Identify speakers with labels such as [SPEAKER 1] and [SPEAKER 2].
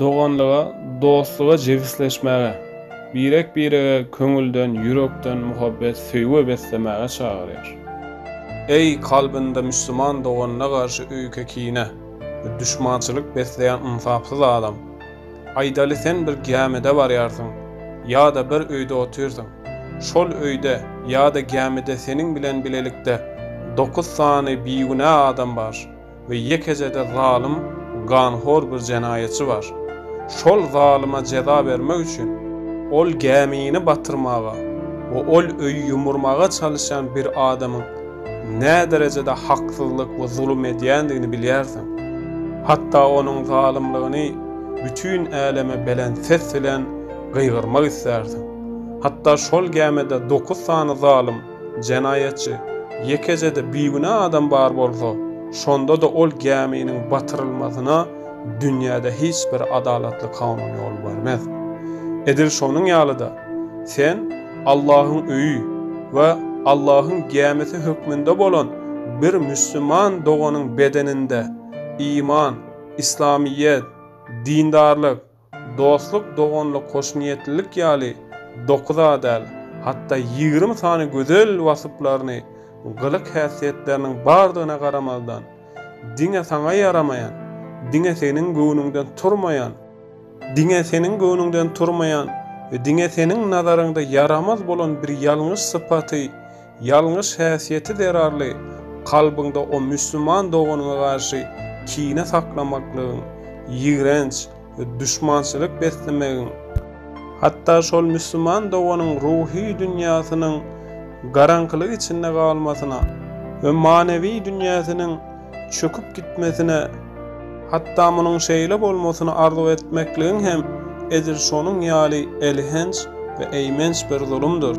[SPEAKER 1] Doganlyga, dostluga jebisleşmäge, birek-birege köňülden, ýürekden muhabbet, söýgi beslemäge çagyrýar. Eý, kalbynda müslüman doganyna garşy öýke-kine we duşmançylyk besleýän ynsapsyz adam! Aýdaly, sen bir gämide barýarsyň ýa-da bir öýde otyrsyň. Şol öýde ýa-da gämide seniň bilen bilelikde dokuz sany bigünä adam bar. we ýekeje-de zalym, ganhor bir jenaýatçy bar. Şol zalyma jeza bermek üçin, ol gämini batyrmaga we ol öýi ýumurmaga çalyşýan bir adamyň näderejede haksyzlyk we zulum edýändigini bilýärsiň. Hatda onuň zalymlygyny bütin äleme belent ses bilen gygyrmak islärsiň. Hatda şol gämide dokuz sany zalym, Jenaýatçy, Ýekeje-de bigünä adam bar bolsa, şonda-da ol gäminiň batyrylmasyna dünýäde hiç bir adalatly kanun ýol bermez. Edil şonuň ýaly-da, sen Allahyň öýi we Allahyň gämisi hökmünde bolan bir müslüman doganyň bedeninde iman, yslamyýet, dindarlyk, Dostluk, doganlyk, hoşniýetlilik ýaly dokuza däl, hatda ýigrimi sany gözel wasyplaryny, gylyk-häsiýetleriniň bardygyna garamazdan, diňe saňa ýaramaýan, diňe seniň göwnüňden turmaýan, diňe seniň göwnüňden turmaýan we diňe seniň nazaryňda ýaramaz bolan bir ýalňyş sypaty Ýalňyş häsiýeti zerarly kalbyňda o müslüman doganyňa garşy kine saklamaklygyň, ýigrenç we duşmançylyk beslemegiň, hatda şol müslüman doganyň ruhy dünýäsiniň garaňkylyk içinde galmasyna we manewi dünýäsiniň çöküp gitmesine, hatda munuň şeýle bolmasyny arzuw etmekligiň hem edil şonuň ýaly elhenç we eýmenç bir zulumdyr.